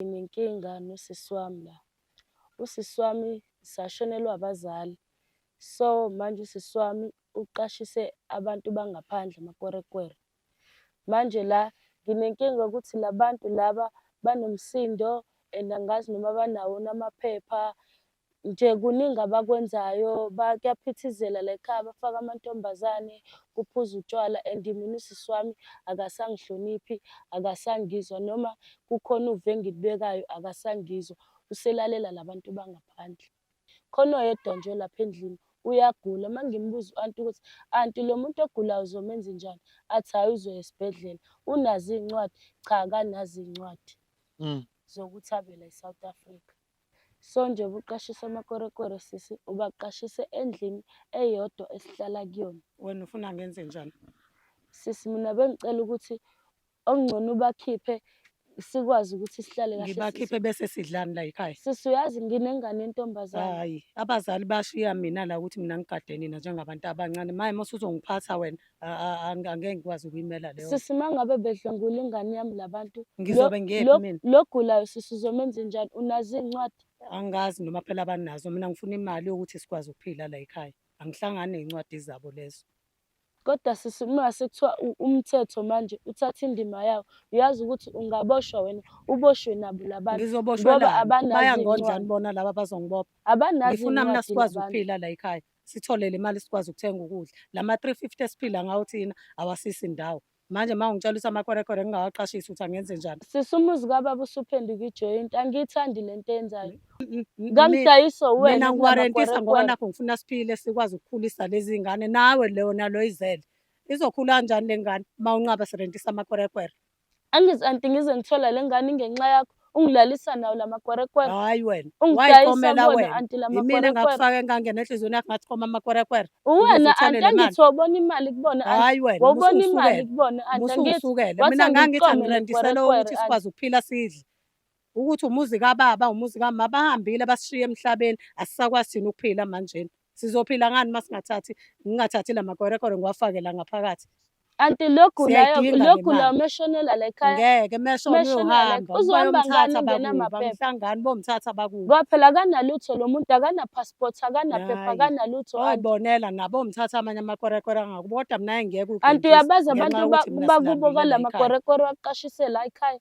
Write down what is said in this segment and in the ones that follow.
Nginenkinga nosisi wami la. Usisi wami sashonelwa abazali. So manje usisi wami uqashise abantu bangaphandle amakwerekwere. Manje la nginenkinga ukuthi labantu laba banomsindo and angazi noma banawo namaphepha nje kuningi abakwenzayo kuyaphithizela la ekhaya bafaka amantombazane kuphuza utshwala and mina usisi wami akasangihloniphi akasangizwa noma kukhona uve engilibekayo akasangizwa uselalela labantu bangaphandle khona oyedwa nje lapha endlini uyagula uma ngimbuza u-anti ukuthi anti lo muntu ogulayo uzomenza njani athi hhayi uzoya esibhedlela unazo iy'ncwadi cha akanazo iy'ncwadi mm. zokuthi avela e-south africa Sonje ubuqashisa amakwerekwere sisi ubaqashise endlini eyodwa esihlala kuyona. Wena ufuna ngenze njani? Sisi mina bengicela ukuthi okungcono ubakhiphe sikwazi ukuthi sihlale kahle. Ngibakhiphe bese sidlani la ekhaya. Sisi uyazi nginengane yentombazane. Hayi, abazali bashiya mina la ukuthi mina ngigade nina njengabantu abancane. Maye mosuzongiphatha wena. angeke ngikwazi ukuyimela leyo sisi mangabe bedlwengula ingane yami labantu ngizobe ngiyephi mina logulayo sisi uzomenza njani unazi incwadi angazi noma phela banazo mina ngifuna imali yokuthi sikwazi ukuphila la ekhaya angihlangani nezincwadi zabo lezo kodwa sisi uma sekuthiwa umthetho manje uthatha indima yawo uyazi ukuthi ungaboshwa wena uboshwe nabo labantu ngizoboshwa bayangondlani bona laba bazongibopha abanazi ngifuna mina sikwazi ukuphila la ekhaya sithole le mali sikwazi ukuthenga ukudla la ma-350 esiphila ngawo thina awasisi ndawo manje uma ungitshela ukuthi amakwerekwere ngingawaqashisi ukuthi angenze njani sisumuzi kababa usuphenduka ijoint angiyithandi le nto enzayo kamdayiso wena ngiwarentisa ngoba nakho ngifuna siphile sikwazi ukukhulisa lezi ngane nawe leyo nalo izele izokhula kanjani le ngane uma unqaba sirentisa amakwerekwere Angizi anti ngize ngithola le ngane ingenxa yakho ungilalisa nawo la makwerekwere. Hayi wena. Ungidayisa Wayikomela kubona wena. anti la Yimina makwerekwere. engakufaka engangena enhliziyweni yakho ngathi koma amakwerekwere. Uwena Ukuze uthole anti le mali. angithi wawubona imali kubona anti. Hayi wena. Wawubona imali musukusukele. kubona anti angithi. Musukusukele. wathi Mina ngangithi angiqome angirendisele nekwerekwere, ukuthi anti. sikwazi ukuphila sidle. Ukuthi umuzi kababa, umuzi kamama bahambile basishiye emhlabeni. Asisakwazi thina ukuphila manjena. Sizophila ngani uma singathathi ngingathathi la makwerekwere ngiwafake la ngaphakathi. Anti lokhu layo Siyayidinga le lokhu layo mali. meshonela la ekhaya. Ngeke mesho Meshonela, uyohamba uzohamba ngani bayomthatha ungena bakubo amaphepha? bamhlangani bomthatha bakubo. Ngoba phela akanalutho lo muntu akana passport akanaphepha Hhayi. akanalutho anti. Oyibonela nabo mthatha amanye amakwerekwere angakubo kodwa mina ngeke Anti uyabazi abantu ba- bakubo kala makwerekwere waqashisela ekhaya.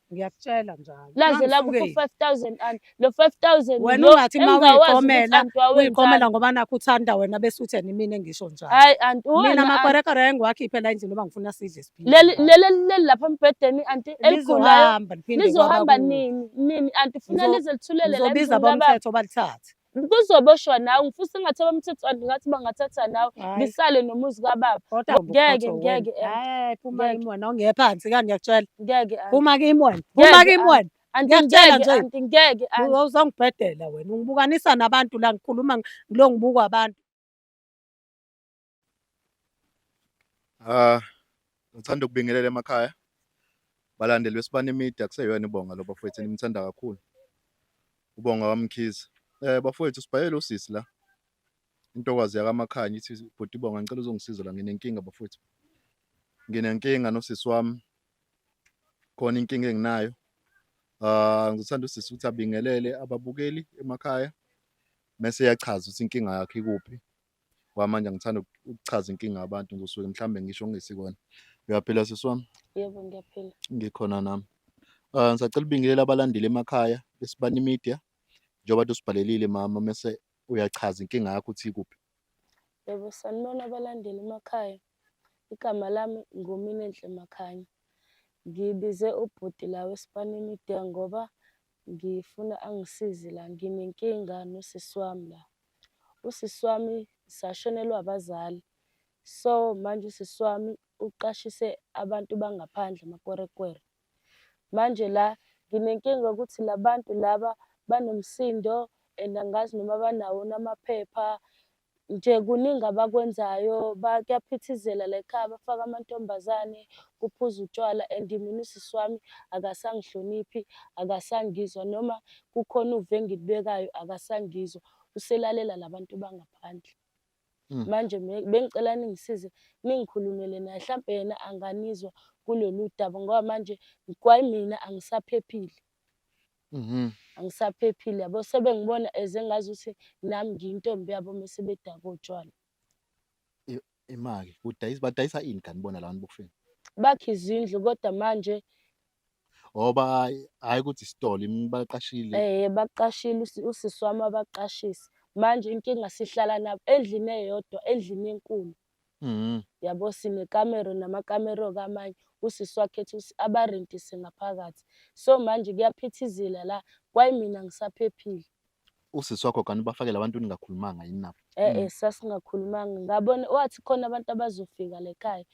ngiyakutshela njalo laze la ku 5000 and lo 5000 wena ungathi ma uyiqomela uyiqomela ngoba nakho uthanda wena bese uthi yena mina ngisho njalo hayi anti mina makwerekere engiwakhiphe la endlini ngoba ngifuna sidle siphile leli leli lapha embhedeni anti eligulayo lizohamba nini nini anti funa lize lithulele la ngizobiza bomthetho balithathe kuzoboshwa nawe ngifuna sengathi abamthethwana ngathi bangathatha nawe ngisale nomuzi kababa ngeke ngeke hayi phuma kimi wena ongeye phansi kani ngiyakutshela ngeke phuma kimi wena phuma kimi wena ngiyakutshela nje ngeke uzongibhedela wena ungibukanisa nabantu la ngikhuluma ngilo ngibukwa abantu Ah, ngithanda ukubingelela emakhaya balandeli beSibani Media kuseyona ibonga lo bafowethu enimthanda kakhulu ubonga wamkhiza eh bafowethu sibhayele usisi la intokazi yakamakhanya ithi bhuti bonga ngicela uzongisiza la nginenkinga bafowethu nginenkinga nosisi wami khona inkinga enginayo ah ngithanda usisi ukuthi abingelele ababukeli emakhaya mese yachaza ukuthi inkinga yakhe ikuphi ngoba manje ngithanda ukuchaza inkinga yabantu ngosuke mhlawumbe ngisho ngesikona uyaphila sisi wami yebo ngiyaphila ngikhona nami um ngisacela ubingelela abalandeli emakhaya besibani media njengoba tusibhalelile mama mese uyachaza inkinga yakho ukuthi ikuphi yebo sanibona abalandeli emakhaya igama lami nguminenhle makhanya ngibize ubhuti la wesibani media ngoba Ngifuna angisize la, nginenkinga nosisi wami la. Usisi wami sashonelwa abazali. So, manje usisi wami uqashise abantu bangaphandle amakwerekwere. Manje la nginenkinga ukuthi la bantu laba banomsindo and angazi noma banawo amaphepha nje kuningi abakwenzayo kuyaphithizela la ekhaya bafaka amantombazane kuphuza utshwala and mina usisi wami akasangihloniphi akasangizwa noma kukhona uve engilibekayo akasangizwa uselalela labantu bangaphandle hmm. manje bengicela ningisize ningikhulumele naye mhlawumbe yena anganizwa kulolu daba ngoba manje kwayimina angisaphephile Mhm. angisaphephile yabo sebengibona eze ngazi ukuthi nami ngiyintombi yabo mese bedaka utshwala Imali. Udayisa badayisa ini kanti bona labantu bokufika? bakhe izindlu kodwa manje Ngoba hayi- hayi ukuthi isitolo im- baqashile. eh baqashile usi- usisi wami abaqashisa manje inkinga sihlala nabo endlini eyodwa endlini enkulu Mhm. yabo sinekamero namakamero kamanye usisi wakhe ethi usi- abarentise ngaphakathi so manje kuyaphithizela la kwayimina ngisaphephile Usisi wakho kanti ubafakela abantu ningakhulumanga yini nabo? e-e sasingakhulumanga ngabona wathi khona abantu abazofika lekhaya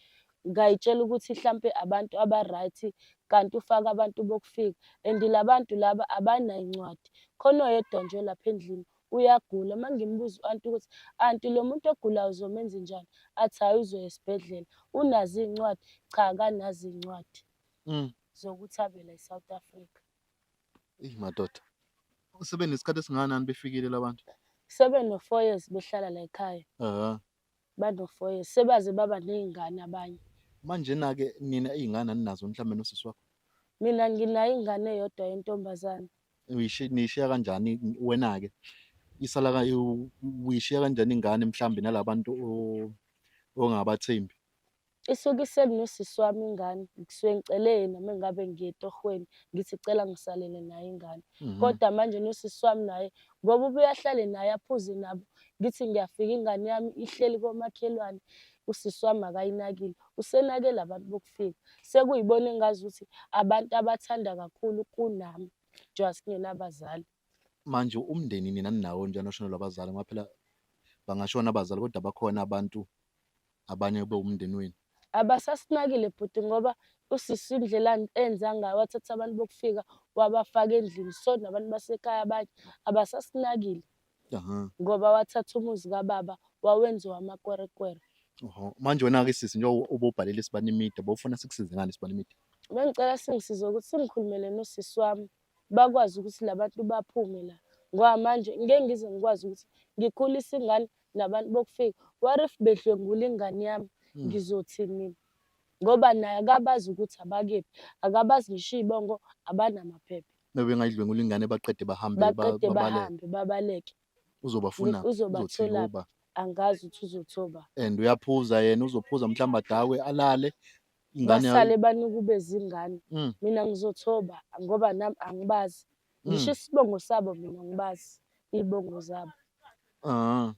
ngayitshela ukuthi hlampe abantu aba-right kanti ufake abantu bokufika and labantu laba abanayincwadi khona oyedwa nje lapha endlini uyagula uma ngimbuza u-anti ukuthi anti lo muntu ogulayo uzomenza njani athi hhayi uzoya esibhedlela unazo iy'ncwadi cha kanazo iy'ncwadi mm. zokuthi avela e-south africa eyi madoda sebenesikhathi esingakanani befikile labantu sebe no-four years behlala la ekhaya banofoye sebaze baba ney'ngane abanye manje na-ke nina iy'ngane aninazo mhlawumbe nosisi wakho mina nginayo ingane eyodwa yentombazane Uyishi- niyishiya kanjani wena-ke isala ka- u- uyishiya kanjani ingane mhlawumbe nalabantu o- ongabathembi Isuke iseli nosisi wami ingane ngisuke ngicele yena uma ngabe ngiye etohweni ngithi cela ngisalele naye ingane mhm. kodwa manje nosisi wami naye ngoba ubuye ahlale naye aphuze nabo ngithi ngiyafika ingane yami ihleli komakhelwane usisi wami akayinakile usenakele abantu bokufika sekuyibona engazi ukuthi abantu abathanda kakhulu kunami njengoba singenabazali manje umndeni nina ninawo njani oshonelwa abazali ngoba phela bangashona abazali kodwa bakhona abantu abanye kube umndeni wenu abasasinakile bhuti ngoba usisi indlela enza ngayo wathatha abantu bokufika wabafaka endlini so nabantu basekhaya abanye abasasinakile ngoba wathatha umuzi kababa wawenziwa amakwerekwere manje wena-ke sisi njengoba ubobhalele isibani imida bowufuna sikusize ngani isibani imida bengicela singisize ukuthi singikhulumele nosisi wami bakwazi ukuthi labantu baphume la ngoba manje ngeke ngize ngikwazi ukuthi ngikhulise ingane nabantu bokufika what if bedlwengula ingane yami hmm. ngizothini mina ngoba naye akabazi ukuthi abakephi akabazi ngisho iy'bongo abanamaphepha bebengayidlwengula ingane baqede bahambe baqede bahambe babaleke uzobafuna uzobathola angazi ukuthi uzothoba and uyaphuza yena uzophuza mhlawumbe adakwe alale Ingane yakho. basale banukubeza ingane Mm. mina ngizothoba ngoba nami angibazi Mm. ngisho isibongo sabo mina ngibazi iy'bongo zabo Ah.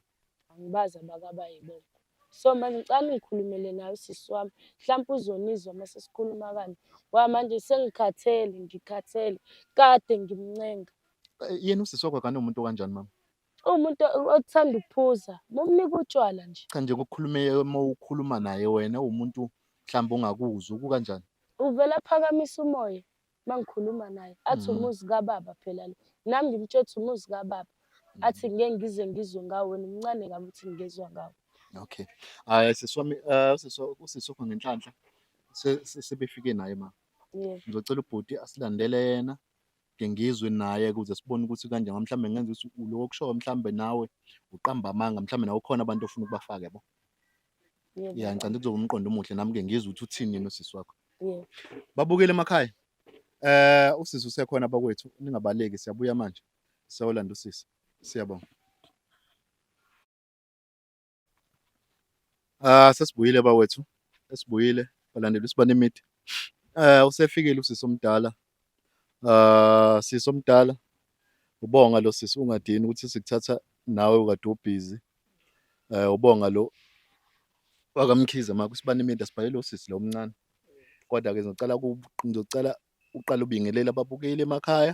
angibazi abakabayibongo so manje ngicala ngikhulumele nayo usisi wami mhlawumpe uzonizwa uma sesikhuluma kanje ngoba manje sengikhathele ngikhathele kade ngimncenga Eh, Yena usisi wakho akanomuntu okanjani mama? Umuntu othanda ukuphuza mumnike utshwala nje. Cha nje kukhulume uma ukhuluma naye wena umuntu mhlawumbe ungakuzwa kukanjani? Uvela phakamisa umoya mangikhuluma naye athi mm. umuzi kababa phela lo. Nami ngimtshethi umuzi kababa. Mm. Athi ngeke ngize ngizwe ngawo wena umncane kabi uthi ngizwa ngawo. Okay. Hayi ah, sisi wami eh, sisi usisi wakho ngenhlanhla sebefike naye ma. Ngizocela ubhuti asilandele yena ngide ngizwe naye ukuze sibone ukuthi kanje mhlawumbe ngenza ukuthi ulo okushoyo mhlawumbe nawe uqamba amanga mhlawumbe nawe khona abantu ofuna ukubafaka yabo ya ngicanda kuzoba umqondo omuhle nami ke ngizwe ukuthi uthini yena usisi wakho babukele emakhaya eh usisi usekhona abakwethu ningabaleki siyabuya manje siyolanda usisi siyabonga Ah sesibuyile bawethu esibuyile balandela usibane imidi eh usefikile usisi omdala ah sisi omdala ubonga lo sisi ungadini ukuthi sikuthatha nawe ukade ubhizi eh ubonga lo wakamkhize maka usibane imidi asibhalele usisi lo omncane kodwa ke ngizocela ngizocela uqala ubingelele ababukeli emakhaya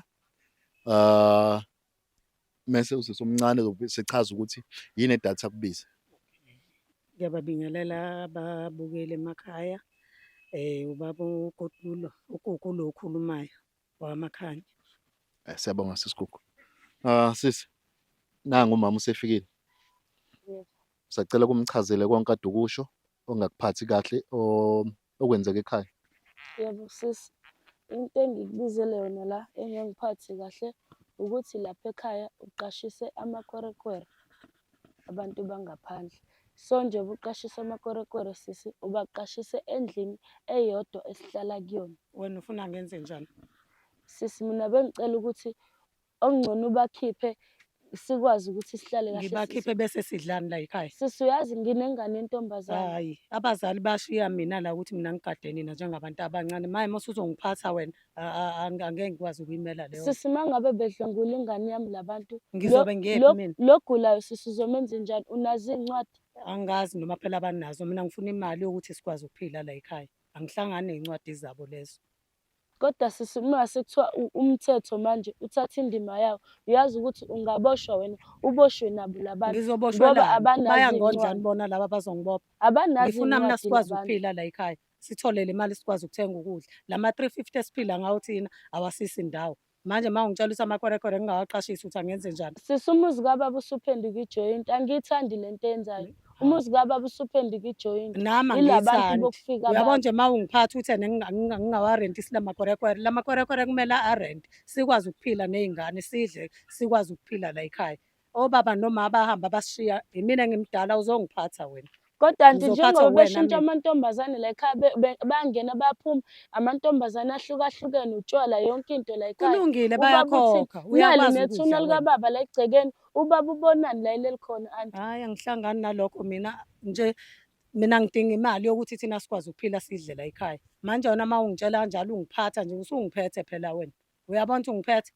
ah mese usisi omncane sechaza ukuthi yini edatha kubize ngiyababingelela ababukeli emakhaya um ubaba ukotulo ukuku lo okhulumayo wamakhanya eh, siyabonga sisigugu um ah, sisi nangu umama usefikile sacela kumchazele konke adukusho ongakuphathi kahle okwenzeka ekhaya? Yebo sisi, into engikubizele yona la engangiphathi kahle ukuthi lapha ekhaya uqashise amakwerekwere abantu bangaphandle. So nje ubuqashise amakwerekwere sisi ubaqashise endlini eyodwa esihlala kuyona. Wena ufuna ngenze njani? Sisi mina bengicela ukuthi okungcono ubakhiphe sikwazi ukuthi sihlale kahle ngibakhiphe bese sidlani la ekhaya sisi uyazi nginengane entombazane hayi abazali bashiya mina la ukuthi mina ngigade nina njengabantu abancane maye mose uzongiphatha wena angeke ngikwazi ukuyimela leyo sisi uma ngabe bedlwengula ingane yami labantu ngizobe ngiyephi mina logulayo sisi uzomenza njani unazi incwadi angazi noma phela abanazo mina ngifuna imali yokuthi sikwazi ukuphila la ekhaya angihlangani nezincwadi zabo lezo Kodwa sisi uma sekuthiwa umthetho manje uthatha indima yawo, uyazi ukuthi ungaboshwa wena, uboshwe nabo labantu. Ngizoboshwa Ngoba abanazo bayangonjani iy'ncwadi. bona laba abazongibopha. Abanazo Ngifuna mina iy'ncwadi sikwazi labantu. ukuphila la ekhaya. Sithole le mali sikwazi ukuthenga ukudla. La ma-350 esiphila ngawo thina awasisi ndawo. manje uma ungitshela ukuthi amakwerekwere ngingawaqashisi ukuthi angenze njani sisi umuzi kababa usuphenduka ijoyinti angiyithandi le nto yenzayo umuzi kababa usuphenduka ijoyinti nami angiyithandi uyabona nje uma ungiphatha ukuthi ngingawarenti sila makwerekwere la makwerekwere kumele arente sikwazi ukuphila ney'ngane sidle sikwazi ukuphila la yikhaya obaba noma abahamba bashiya yimina ngimdala uzongiphatha wena kodwa nje njengoba beshintsha amantombazane la ekhaya bangena baphuma amantombazane ahlukahlukene utshwala yonke into la ekhaya kulungile bayakhokha uyakwazi nethuna likababa la egcekeni ubaba ubonani la ileli khona anti hayi angihlangani nalokho mina nje mina ngidinga imali yokuthi thina sikwazi ukuphila sidle la ekhaya manje wena uma ungitshela kanjalo ungiphatha nje usungiphethe phela wena uyabona ukuthi ungiphethe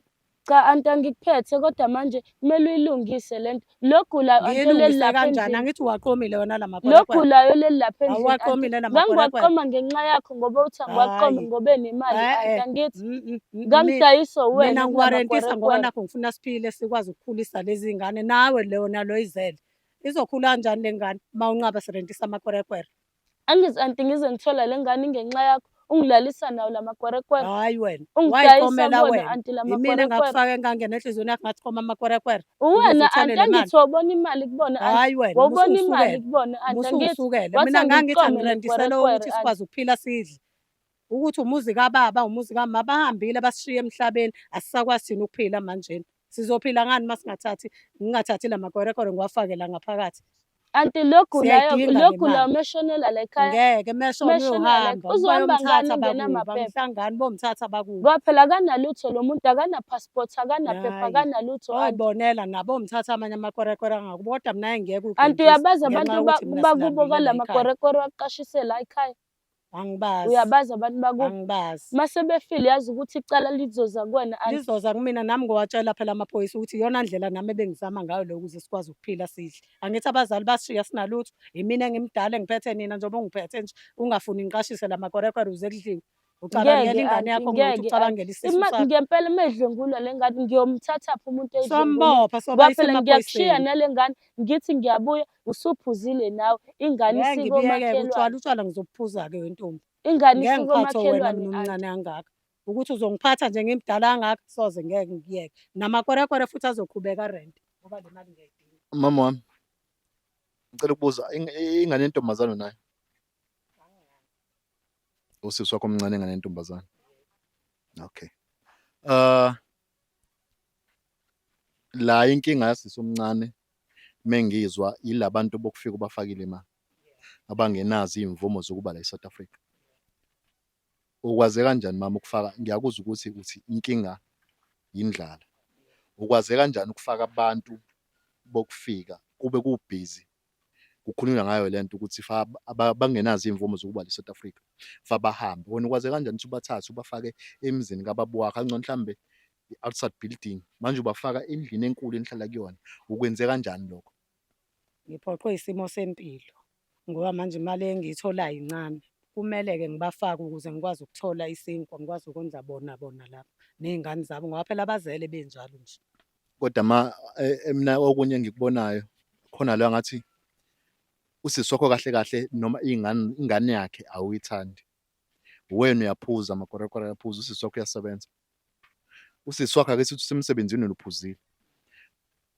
cha anti angikuphethe kodwa manje kumele uyilungise lento logulayo ngiyilungise kanjani angithi uwaqomile wona la mabhola logulayo leli lapha endlini awaqomile la mabhola ngiwaqoma ngenxa yakho ngoba uthi angiwaqome ngobe nemali eh, anti eh. angithi mm, mm, mm, ngamdayisa wena mina ngiwarentisa ngoba nakho ngifuna siphile sikwazi ukukhulisa lezi ngane nawe leyo nalo izele izokhula kanjani lengane uma unqaba sirentisa amakwerekwere Angizi anti ngize ngithola le ngane ingenxa yakho ungilalisa nawo la makwerekwere. Hayi wena. Ungidayisa Wayikomela kubona wena. anti la Yimina makwerekwere. engakufaka engangena enhliziyweni yakho ngathi koma amakwerekwere. Uwena Ukuze uthole anti le mali. angithi wawubona imali kubona anti. Hayi wena. Wawubona imali musukusukele. kubona anti angithi. Musukusukele. wathi Mina ngangithi angiqome angirendisele nekwerekwere, ukuthi anti. sikwazi ukuphila sidle. Ukuthi umuzi kababa, umuzi kamama bahambile basishiye emhlabeni. Asisakwazi thina ukuphila manjena. Sizophila ngani uma singathathi ngingathathi la makwerekwere ngiwafake la ngaphakathi. Anti lo gulayo Siyayidinga lo le gulayo mali. meshonela la ekhaya. Ngeke mesho Mesho uyohamba ngeke. Uzohamba ngani bayomthatha ungena bakubo amaphepha? bamhlangani bomthatha bakubo. Ngoba phela akanalutho lo muntu akanapassport akanaphepha Hhayi. akanalutho anti. Oyibonela nabo mthatha amanye amakwerekwere angakubo kodwa mina ngeke Anti uyabazi abantu ba- bakubo kala makwerekwere waqashisela ekhaya. angibazi uyabazi abantu bakubo angibazi mase befile yazi ukuthi icala lizoza kuwena and lizoza kumina nami ngowatshela phela amaphoyisa ukuthi iyona ndlela nami ebengizama ngayo leyo ukuze sikwazi ukuphila sidle angithi abazali basishiya sinalutho yimina engimdala engiphethe nina njengoba ungiphethe nje ungafuni ngiqashise la makorekwere uze kudliwe ucabangela ngeke ingane yakho anti ngokuthi ngeke anti ucabangela isisu Ima- sakho ngempela uma edlwengula le ngane ngiyomthathaphi umuntu eyidlwengula sombopha soba kwaphela ngiyakushiya isemaphoyiseni nale ngane ngithi ngiyabuya usuphuzile nawe ingane Ngeke ngibiyeke utshwala isikomakhelwane utshwala ngizobuphuza-ke wentombi ingane ngeke ngiphathwe wena isikomakhelwane mina aunty. omncane angaka ukuthi uzongiphatha nje ngimdala angaka soze ngeke ngikuyeke namakwerekwere futhi azoqhubeka rent ngoba le mali ngiyayidinga Mama wami. Ngicela ukubuza ing- i- ingane yentombazane nayo. Usisi wakho omncane ingane yentombazane. Okay. Uh la inkinga yasisi omncane mengizwa yilabantu bokufika ubafakile imali abangenazi imvumo zokuba la eSouth Africa ukwaze kanjani mama ukufaka ngiyakuzwa ukuthi uthi inkinga yindlala ukwaze kanjani ukufaka abantu bokufika kube kubhizi kukhulunywa ngayo le nto ukuthi fa bangenazo iy'mvumo zokuba le South Africa fa bahambe wena ukwaze kanjani ukuthi ubathathe ubafake emzini kababa wakho angcono mhlawumbe i-outside building manje ubafaka endlini enkulu enihlala kuyona ukwenze kanjani lokho ngiphoqwe isimo sempilo ngoba manje imali engiyitholayo incane kumele-ke ngibafake ukuze ngikwazi ukuthola isinkwa ngikwazi ukondla bona bona lapho ney'ngane zabo ngoba phela abazele benjalo nje Kodwa ma e- emna okunye engikubonayo khona la ngathi usisi wakho kahle kahle noma ingane ingane yakhe awuyithandi. Wena uyaphuza amakorekore ayaphuza usisi wakho uyasebenza. Usisi wakho ake sithi usemsebenzini wena uphuzile.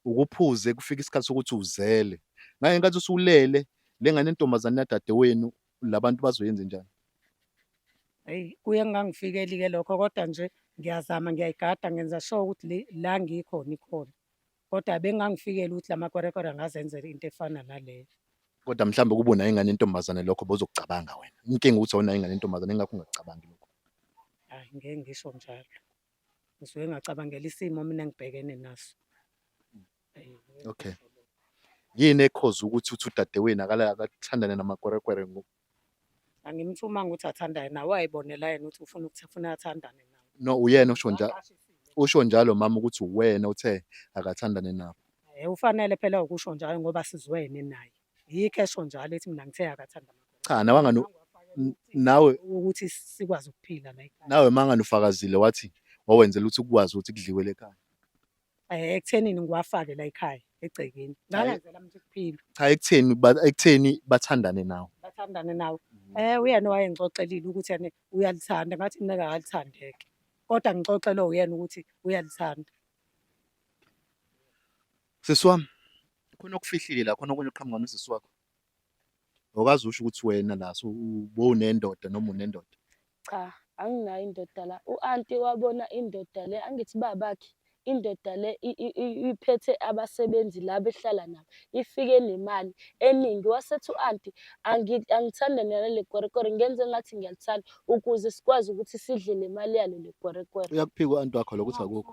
Ukuphuze kufika isikhathi sokuthi uzele. Ngale nkathi usulele le ngane yentombazane yadadewenu labantu bazoyenze njani Eyi kuye kungangifikeli ke lokho kodwa nje ngiyazama ngiyayigada ngenza sure ukuthi le la ngikhona ikhona. Kodwa bengangifikeli ukuthi lamakwerekwere angazenzela into efana naleyo. kodwa mhlawumbe kuba unayo ingane yentombazane lokho bozokucabanga wena inkinga ukuthi awunayo ingane yentombazane ingakho ungakucabangi lokho Hayi ngeke ngisho njalo. Ngisuke ngacabangela isimo mina engibhekene naso. Okay. Yini ekhoza ukuthi uthi udadewenu akala akathandane namakwerekwere ngo Angimthumanga ukuthi athandane nawe wayibonela yena ukuthi ufuna ukuthi ufuna athandane nawe. no uyena usho njalo usho njalo mama ukuthi uwena uthe akathandane nabo. Eh ufanele phela ukusho njalo ngoba sizwene naye. Yikho esho njalo ethi mina ngithe akathandana. Cha nawe angani n- nawe Ukuthi sikwazi ukuphila la ekhaya. nawe mangani ufakazile wathi wawenzela ukuthi ukwazi ukuthi kudliwe lekhaya. eh, ekuthenini ngiwafake la ekhaya egcekeni ngangenzela mntu kuphila cha ekutheni ba- ekutheni bathandane nawe bathandane nawe Mm. eh uyena owayengixoxelile ukuthi yena uyalithanda ngathi mina akalithandeke kodwa ngixoxelwe uyena ukuthi uyalithanda sisi wami khona okufihlile la khona okunye oqhamuka nosisi wakho awukazi usho ukuthi wena la so ubowunendoda noma unendoda Cha, anginayo indoda la. U-anti wabona indoda le, angithi babakhe indoda le iphethe abasebenzi la behlala nabo, ifike nemali eningi. Wasethi u-anti angithanda nalo le kwerekwere, ngenze ngathi ngiyalithanda ukuze sikwazi ukuthi sidle le mali yalo le kwerekwere. Uyakuphika u-anti wakho lokho ukuthi akukho.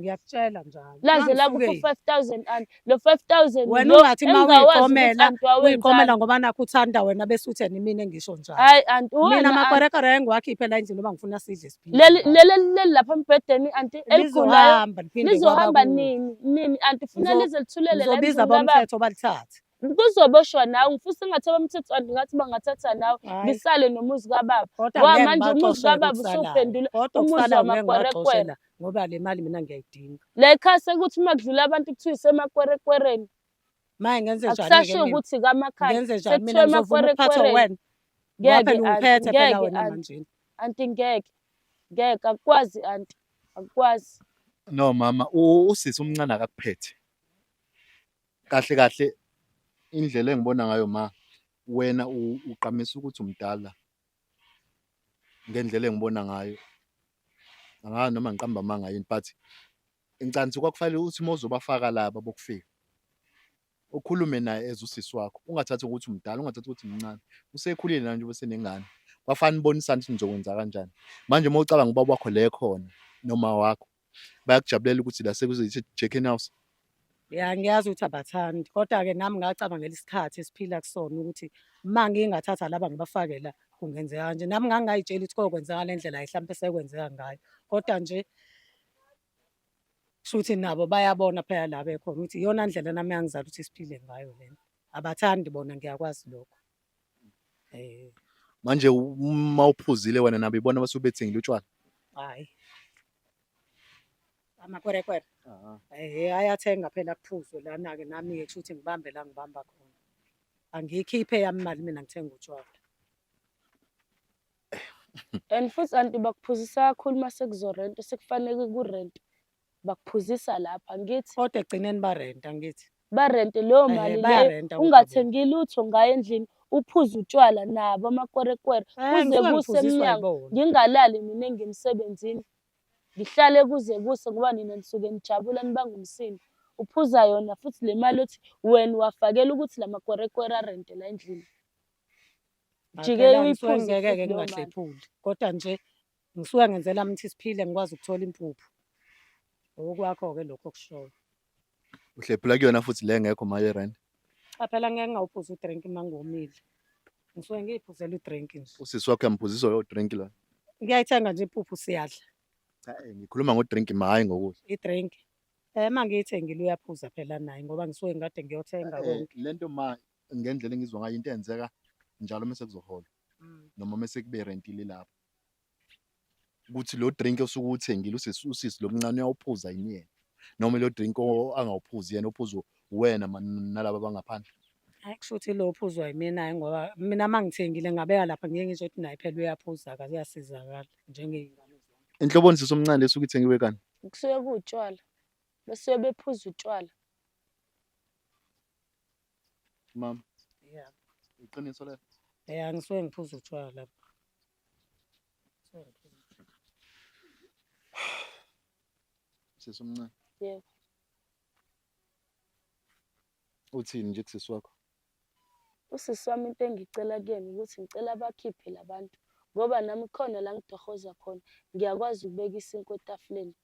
ngiyakutshela njalo laze la ku 5000 and lo 5000 wena ungathi ma uyiqomela uyiqomela ngoba nakho uthanda wena bese uthi yena mina ngisho njalo hayi anti mina makwerekere engiwakhiphe la endlini ngoba ngifuna sidle siphile leli leli lapha embhedeni anti eligulayo lizohamba nini nini anti funa lize lithulele la ngizobiza abomthetho balithathe kuzoboshwa nawe ngifisa ngathi abamthetho kanti ngathi bangathatha nawe ngisale nomuzi kababa wa manje umuzi kababa usuphendula umuzi wamakwerekwere ngoba le mali mina ngiyayidinga la ekhaya sekuthi uma kudlula abantu kuthiwa isemakwerekwereni maye ngenze njani akusasho ukuthi kamakhaya ngenze njani mina ngizovuma ukuphatha wena ngoba phela ungiphethe phela wena manje anti ngeke ngeke akukwazi anti akukwazi no mama usisi umncane akakuphethe kahle kahle indlela engibona ngayo ma wena uqamisa ukuthi umdala ngendlela engibona ngayo angazi noma ngiqamba amanga yini but incansi kwakufanele uthi uma uzobafaka laba bokufika ukhulume naye as usisi wakho ungathathi ukuthi umdala ungathathi ukuthi mncane usekhulile nanje ubesenengane kwafanele ubonisane ukuthi nizokwenza kanjani manje uma ucabanga ubaba wakho le khona noma wakho bayakujabulela ukuthi la sekuzoyithi Chicken House ya ngiyazi ukuthi abathandi kodwa-ke nami ngacabangela isikhathi esiphila kusona ukuthi uma ngingathatha laba ngibafake la kungenzeka kanje nami ngangingayitsheli ukuthi kokwenzeka le ndlela mhlawumpe sekwenzeka ngayo kodwa nje shuthi nabo bayabona phela la bekhona ukuthi iyona ndlela nami yangizala ukuthi siphile ngayo lena abathandi bona ngiyakwazi lokho Eh. Manje uma uphuzile wena nabo ibona basuke bethengile utshwala. Hayi. Amakwerekwere. Aha. Eh ayathenga phela kuphuzwe lana ke nami ke kushuthi ngibambe la ngibamba khona. Angiyikhiphe yami imali mina ngithenga utshwala. And futhi anti bakuphuzisa kakhulu uma sekuzorenta sekufanele kurenta. bakuphuzisa lapha ngithi kodwa egcineni barenta ngithi barente leyo eh, mali leyo ungathengi lutho ngayo endlini uphuze utshwala nabo amakwerekwere eh, kuze kuse emnyango ngingalali mina engimsebenzini ngihlale kuze kuse ngoba nina nisuke nijabula nibanga umsindo uphuza yona futhi le mali othi wena wafakela ukuthi la makwerekwere arente la endlini jike uyiphuze ngeke ngingahlephuli kodwa nje Ngisuke ngenze lami ukuthi siphile ngikwazi ukuthola impuphu. Okwakho-ke lokho okushoyo. Uhlephula kuyona futhi le ngekho mali erandi. Cha phela ngeke ngawuphuza udrink uma ngomile. Ngisuke ngiyiphuzela udrink nje. Usisi wakho uyamphuzisa lowo drink lona. Ngiyayithenga nje impuphu siyadla Cha eh, ngikhuluma ngodrink ma hhayi ngokudla. idrink. Eh uma ngiyithengile uyaphuza phela naye ngoba ngisuke ngikade ngiyothenga Eh, konke. Le nto ma ngendlela engizwa ngayo into eyenzeka njalo uma sekuzohola Mm. noma uma sekube rentile lapho. ukuthi lo drink osuke uthengile usisi usisi lomncane uyawuphuza yini yena noma lo drink o- angawuphuzi yena ophuzwa wena ma- nalaba bangaphandle hayi kusho ukuthi lo phuzwa yimina hhayi ngoba mina uma ngithengile ngabeka lapha ngeke ngisho ukuthi naye phela uyaphuza akaze uyasizakala njengey'ngane inhloboni sisi omncane lesuke ithengiwe kani kusuke kuwutshwala besuke bephuza utshwala Mama. Yeah. Iqiniso lelo. Eh angisuke ngiphuza utshwala lapha. Sisi omncane. Yebo. Uthini nje kusisi wakho? Usisi wami into engicela kuyena ukuthi ngicela abakhiphe labantu ngoba nami khona la ngidohoza khona ngiyakwazi ukubeka isinkwa etafuleni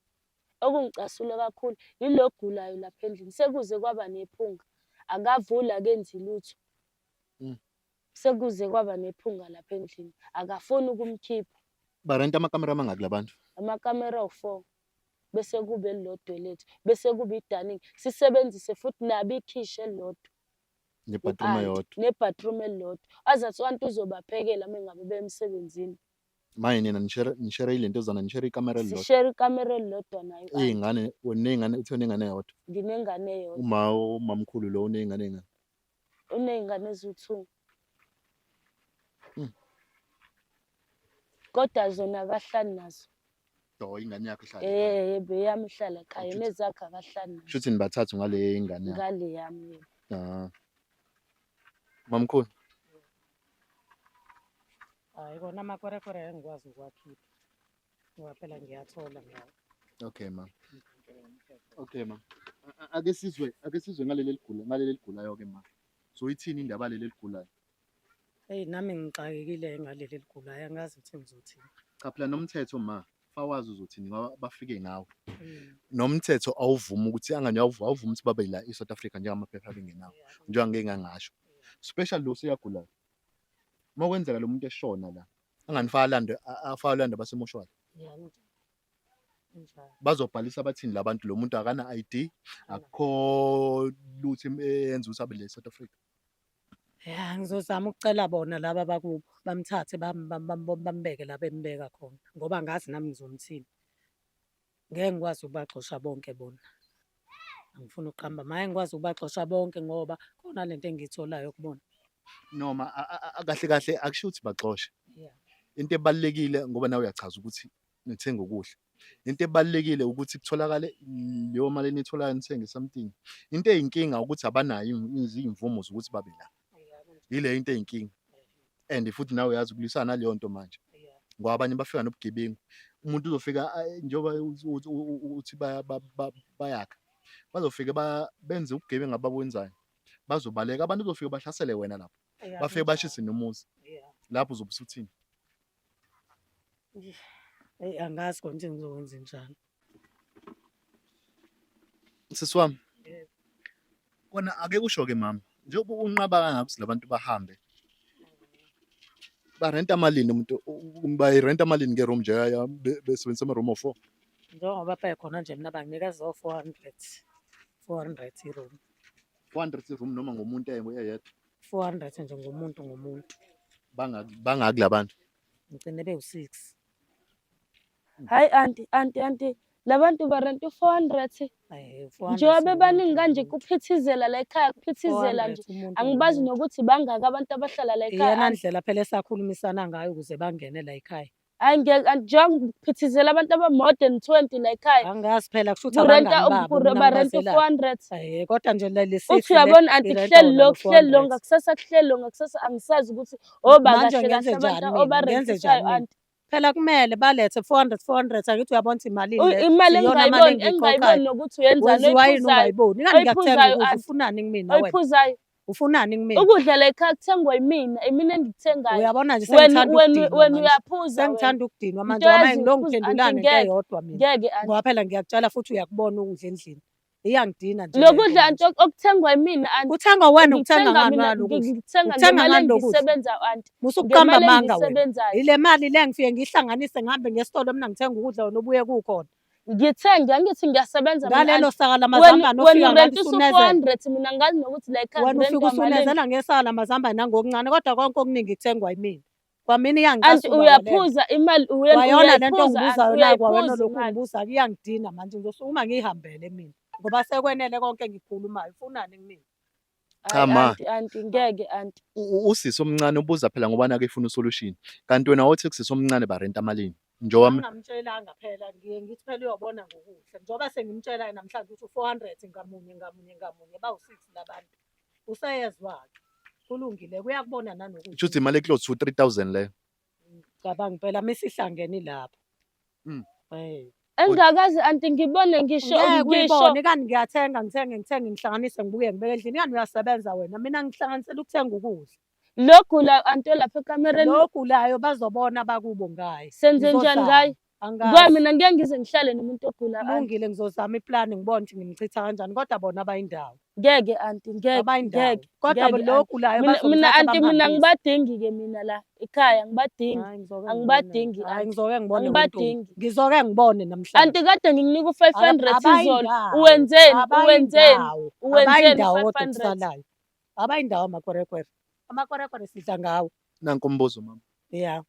Okungicasule kakhulu yilo ogulayo lapha endlini, sekuze kwaba nephunga, akavuli akenzi lutho. Mm. Sekuze kwaba nephunga lapha endlini, akafuni ukumkhipha. Barenta amakamera amangaki labantu? Amakamera awu-four bese kube elilodwa elethu, bese kube idaningi, sisebenzise futhi nabo ikhishi elilodwa. Nebhathroom eyodwa. Nebhathroom elilodwa. Azathi u-anti uzobaphekela uma ngabe bemsebenzini. manje nina nishare nishare ilento zona nishare ikamera elilodwa sishare ikamera elilodwa nayo iy'ngane uney'ngane uthe uney'ngane yodwa nginengane yodwa uma umamkhulu lo uney'ngane ey'ngane uney'ngane eziwu-two hmm. kodwa zona akahlali nazo do ingane yakho ihlala eh yebo eyami ihlala ekhaya nezakhe akahlali nazo shuthi nibathathu ngale ingane yakho ngale yami yebo ah mamkhulu hayi kona amakwerekwere angikwazi ukuwakhipha ngoba phela ngiyathola ngawo okay ma okay ma ake sizwe ake sizwe ngaleli ligula ngaleli ligulayo ke ma so ithini indaba leli ligulayo eyi nami ngixakekile ngaleli ligulayo angazi ukuthi ngizothini cha phela nomthetho ma fawazi uzothini ngoba bafike ngawo mm. nomthetho awuvumi ukuthi angani awuvumi awuvumi ukuthi babe la eSouth Africa njengamaphepha abengenawo njengoba ngeke ngangasho special lo seyagulayo uma kwenzeka lo muntu eshona la angani falanda afalanda basemoshwari bazobhalisa abathini labantu lo muntu akana ID akukho lutho eyenza ukuthi abe le South Africa Ya ngizozama ukucela bona laba bakubo bamthathe bam- bam- bam- bam- bambeke la bembeka khona ngoba ngazi nami ngizomthini. Ngeke ngikwazi ukubaxosha bonke bona. Angifuni ukuqamba maye ngikwazi ukubaxosha bonke ngoba khona lento engiyitholayo kubona. noma a- a- a- kahle kahle akusho ukuthi baxoshe Yeah. into ebalulekile ngoba nawe uyachaza ukuthi nithenga ukudla into ebalulekile ukuthi kutholakale leyo mali enitholayo nithenge something into eyinkinga ukuthi abanayo izimvumo zokuthi babe la yile into eyinkinga and futhi nawe uyazi ukulwisana naleyo nto manje ngoba abanye bafika nobugebengu umuntu uzofika njengoba uthi bayakha bazofike benze ubugebengu abakwenzayo bazobaleka abantu uzofika bahlasele wena lapho bafike bashise nomuzi lapho uzobe usuthini Eyi angazi khona ukuthi ngizokwenza njani. Sisi wami. Kona ake kusho-ke mama, njengoba unqaba kangaka ukuthi labantu bahambe. Barenta malini umuntu bayirenta malini nge-room nje ya be- besebenzisa ama-room of four? Njengoba baye khona nje mina banginika zo 400. 400 iroom. 400 i-room noma ngomuntu eyedwa. 400 nje ngomuntu ngomuntu bangaki bangaki labantu ngicine bewu6 hayi anti anti anti labantu barenta u400 njengoba bebaningi kanje kuphithizela la ekhaya kuphithizela nje angibazi nokuthi bangaki abantu abahlala la ekhaya iyona ndlela phela esakhulumisana ngayo ukuze bangene la ekhaya Hayi ngeke angijonge ngiphithizela abantu aba-more than 20 la ekhaya. Angazi phela kusho ukuthi Kurenta abangani babo uku- mina barenta ngibazela. u-400. Eh, kodwa nje le- lesithi Uthi le uyabona anti irenta kuhleli wona lo ngo-400. kuhleli lo ngakusasa kuhleli lo ngakusasa angisazi ukuthi oba Manje kahle ngenze kahle abantu njani mina? Ngenze njani obarentisayo mina? anti. Phela kumele balethe 400 400 angithi uyabona ukuthi imalini U- le. Imali Iyona mali engingayiboni engiyikhokhwayo. engingayiboni nokuthi uyenzani Wenziwa yini oyiphuzayo ungayiboni? Kanti ngiyakuthenga oyiphuzayo ukudla anti. ufunani kumina wena? oyiphuzayo ufunani kumina ukudla la ekhaya kuthengwa yimina imina engikuthengayo uyabona nje wena uyaphuza sengithanda ukudinwa manje wama ngilongiphendulane into eyodwa mina ngeke ngoba phela ngiyakutshela futhi uyakubona ukudla endlini iyangidina nje lokudla anti okuthengwa yimina anti kuthengwa wena ukuthenga ngani wena ukuthenga ngemali ngisebenza anti musukuqamba amanga wena ile mali le ngifike ngihlanganise ngihambe ngesitolo mina ngithenga ukudla wena ubuye kukhona ngithe ngiyangithi ngiyasebenza ngalelo saka lamazambane ofika ngathi usunezela mina ngazi nokuthi la ekhaya wena ufika usunezela ngesaka lamazambane nangokuncane kodwa konke okuningi kuthengwa yimina kwamina iyangicasa and uyaphuza imali uyona lento ngibuzayo la kwawena lokhu ngibuza kuyangidina manje ngizosukuma ngiyihambele mina ngoba sekwenele konke ngikhulumayo ufunani kumina Cha Hayi, ma, anti anti ngeke anti u- u- usisi omncane ubuza phela ngoba nake efuna usolution. Kanti wena wothi kusisi omncane barenta amalini. Njengoba mi- angamtshelanga phela ngiye ngithi phela uyobona ngokuhle njengoba sengimtshela namhlanje ukuthi u-400 ngamunye ngamunye ngamunye bawu-six labantu usayezwa-ke kulungile kuyakubona nanokuthi shuthi imali eclose to 3000 leyo. Cabanga impela misihlangene lapho. Mm. Eh. Engakazi anti ngibone ngisho Ngeke ngisho uyibone kanti ngiyathenga ngithenge ngithenge ngihlanganise ngibuye ngibeke endlini kanti uyasebenza wena mina ngihlanganisela ukuthenga ukudla. logula anti olapha ekamereni Logulayo bazobona bakubo ngaye. senze njani Uzozama. ngaye Angazi. Ngoba mina ngeke ngize ngihlale nomuntu ogula anti. Kulungile ngizozama iplani ngibone ukuthi ngimchitha kanjani kodwa bona abayindawo. Ngeke anti ngeke Abayindawo. ngeke. Kodwa ngeke, lo anti. ogulayo Mina mina bazomthatha anti mina bamhambise. ngibadingi ke mina la ekhaya ngibadingi. Hayi, ngizoke Angibadingi, ngibone. Hayi, anti. ngizoke ngibone Angibadingi. uNtombi. ngizoke ngibone namhlanje Anti kade ngikunika u 500 Aba- izolo. abayindawo. Uwenzeni? Uwenzeni? Abayindawo. Uwenzeni Abayindawo kodwa 500? okusalayo abayindawo amakwerekwere amakwerekwere sidla ngawo Nanku umbuzo mama. ya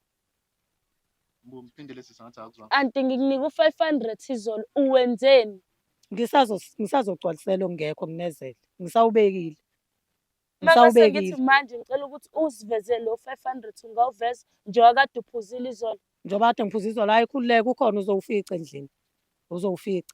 Ngiphindele sisi ngathi akuzwa. Anti ngikunika u-500 izolo uwenzeni? Ngisazo ngisazogcwalisela ongekho nginezele. Ngisawubekile. Mama sengithi Ngisawubekile. manje ngicela ukuthi usiveze lo 500 ungawuveza njengoba kade uphuzile izolo. Njengoba kade ngiphuza izolo hayi khululeka ukhona uzowufica endlini. Uzowufica.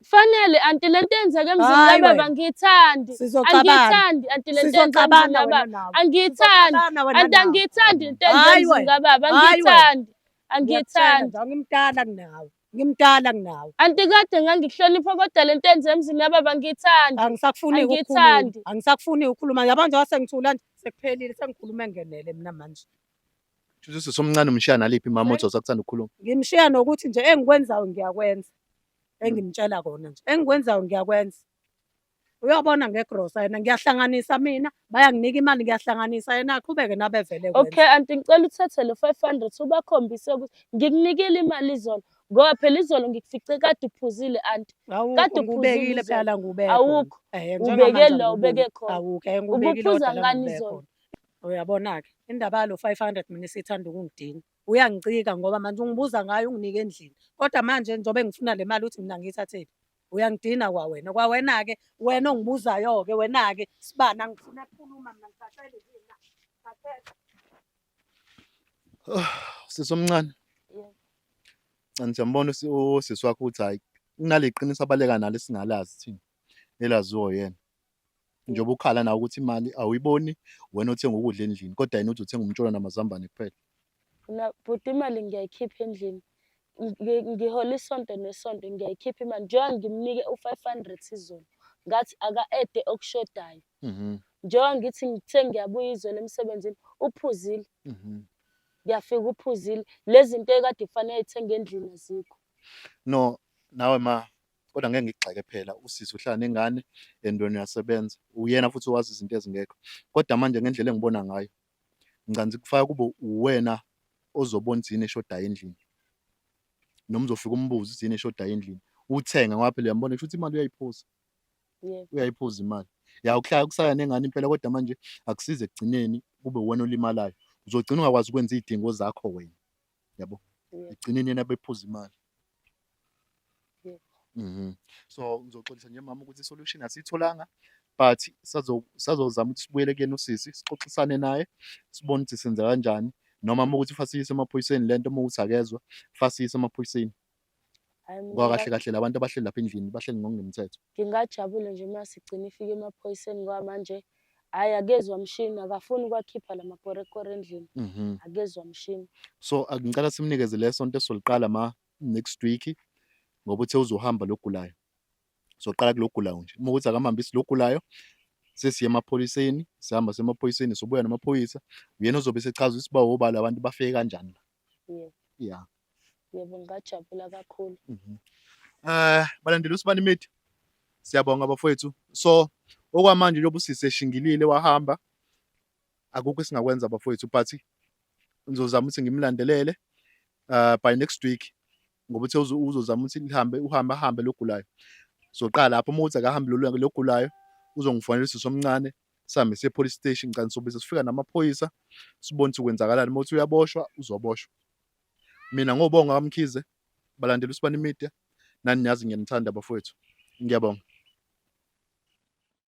Kufanele anti lento eyenzeke emzini Hayi kababa wena. angiyithandi. Sizocabana. Angiyithandi anti lento eyenzeke emzini Sizocabana wena kababa. nawe. Angiyithandi. Sizocabana wena Anti nawe. angiyithandi into eyenzeke Hayi emzini wena. kababa. Hayi wena. Angiyithandi. Ngiyakutshela Angiyithandi. nje, ngimdala kunawe ngimdala kunawe Anti kade ngangihlonipha kodwa lento eyenzeke emzini kababa angiyithandi. angisakufuni ukukhuluma Angiyithandi. angisakufuni ukukhuluma yabo nje wasengithula nje sekuphelile sengikhuluma engenele mina manje Shuthi usisi omncane umshiya naliphi mama othi usakuthanda ukukhuluma. ngimshiya nokuthi nje engikwenzayo ngiyakwenza engimtshela kona nje engikwenzayo ngiyakwenza uyobona ngegrosa yena ngiyahlanganisa mina bayanginika imali ngiyahlanganisa yena aqhubeke nabevele okay anti ngicela uthathe lo 500 ubakhombise ukuthi ngikunikile imali izolo ngoba phela izolo ngikufice kade uphuzile anti kade uphuzile phela ngubeke awukho eh, ubeke lo ubeke khona awukho eh, ubuphuza ngani izolo uyabona ke indaba yalo 500 mina sithanda ukungidina uyangicika ngoba manje ungibuza ngayo unginike endlini kodwa manje njengoba ngifuna le mali uthi mina ngiyithathephi uyangidina kwawena kwawena-ke wena ongibuzayo-ke wena-ke sibani angifuna kukhuluma mina ngicacele mina ngicacele Oh, sisi omncane Ngicela siyambona usi- usisi wakho ukuthi hayi kunale qiniso abaleka nalo esingalazi thina elaziwo yena njengoba ukhala nawe ukuthi imali awuyiboni wena othenga ukudla endlini kodwa yena uthi uthenga umtsholo namazambane kuphela Mina bhuti imali ngiyayikhipha endlini. Ngi- Ngihola isonto nesonto ngiyayikhipha imali. Njengoba ngimnike u-five hundred izolo. Ngathi aka-ede okushodayo. Mhm, Njengoba ngithi ngithe ngiyabuya izolo emsebenzini uphuzile. mhm. Ngiyafika uphuzile. Lezi zinto ekade kufanele ayithenge endlini azikho. no nawe ma kodwa ngeke ngigxeke phela usisi uhlala nengane and wena uyasebenza uyena futhi wazi izinto ezingekho kodwa manje ngendlela engibona ngayo ngicanzi kufaka kube uwena ozobona izini eshodayo endlini noma uzofika umbuze izini eshodayo endlini uthenge ngoba phela uyambona kusho ukuthi imali uyayiphuza uyayiphuza imali ya ukuhlala kusaya nengane impela kodwa manje akusize ekugcineni kube uwena olimalayo uzogcina ungakwazi ukwenza iy'dingo zakho wena yabo ekugcineni yena bephuza imali mhm so ngizoxolisa nje mama ukuthi solution asitholanga but sazozama ukuthi sibuyele kuyena usisi sixoxisane naye sibone ukuthi senza kanjani noma uma ukuthi fasiyise emaphoyiseni lento uma ukuthi akezwa fasiyise emaphoyiseni Ngoba kahle kahle labantu abahleli lapha endlini bahleli ngokungemthetho. Ngingajabule nje uma sigcina ifike emaphoyiseni ngoba manje hhayi akezwa mshini akafuni ukwakhipha la makorekore endlini mhm. akezwa mshini. So ngicela simnikeze le sonto esoliqala ma next week ngoba uthe uzohamba logulayo. Soqala kulogulayo nje. Uma ukuthi akamhambisi logulayo sesiye emaphoyiseni sihamba semaphoyiseni sobuya namaphoyisa uyena ozobe sechaza ukuthi bawobala abantu bafike kanjani la Yebo. Yeah. Yebo ngajabula kakhulu. Mhm. Eh balandela usibani media. Siyabonga bafowethu. So okwamanje njengoba usisi eshingilile wahamba akukho esingakwenza bafowethu but ngizozama ukuthi ngimlandelele uh, by next week ngoba uthe uzo- uzozama ukuthi lihambe uhambe ahambe logulayo soqala lapho uma uthi akahambe lolu- logulayo uzongifonela usisi omncane sihambe siye police station ngicela nisobise sifika namaphoyisa sibone ukuthi kwenzakalani uma uthi uyaboshwa uzoboshwa mina ngobonga kamkhize balandela usibani media nani niyazi ngiyanithanda bafowethu ngiyabonga